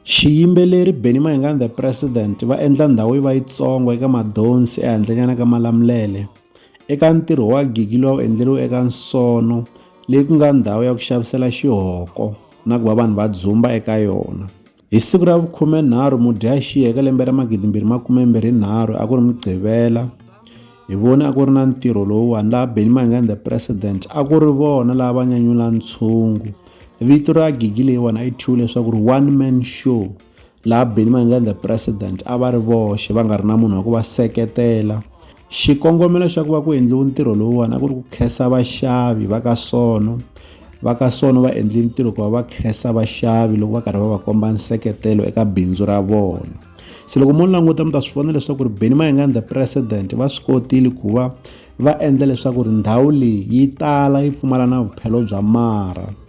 Xiyimbeleri Benny Mayengani The President va endla ndhawu yi va yitsongo eka madonsi ehandlenyana ka Malamulele. Eka ntirho wa gigi lowu a wu endleriwe eka Nsono leyi ku nga ndhawu ya ku xavisela xihoko na ku va vanhu va dzumba eka yona hi siku ra vukhumenharhu mudyaxihi eka lembe ra magidi mbirhi makume mbirhi nharhu a ku ri mugqivela hi voni a ku ri na ntirho lowuwani laha benny mangan the president a ku ri vona laha va nyanyula ntshungu vito ra gigi leyiwani a yi thyiwe leswaku ri one man show laha Benny Mayengani the president a va ri voxe va nga ri na munhu wa ku va seketela xikongomelo xa ku va ku endliwe ntirho lowuwani a ku ri ku khensa vaxavi va ka sono va ka sono va endle ntirho ku va va khensa vaxavi loko va karhi va va komba nseketelo eka bindzu ra vona se loko mo languta mi ta swi vona leswaku ri Benny Mayengani the president va swi kotile ku va va endla leswaku ri ndhawu leyi yi tala yi pfumala na vuphelo bya mara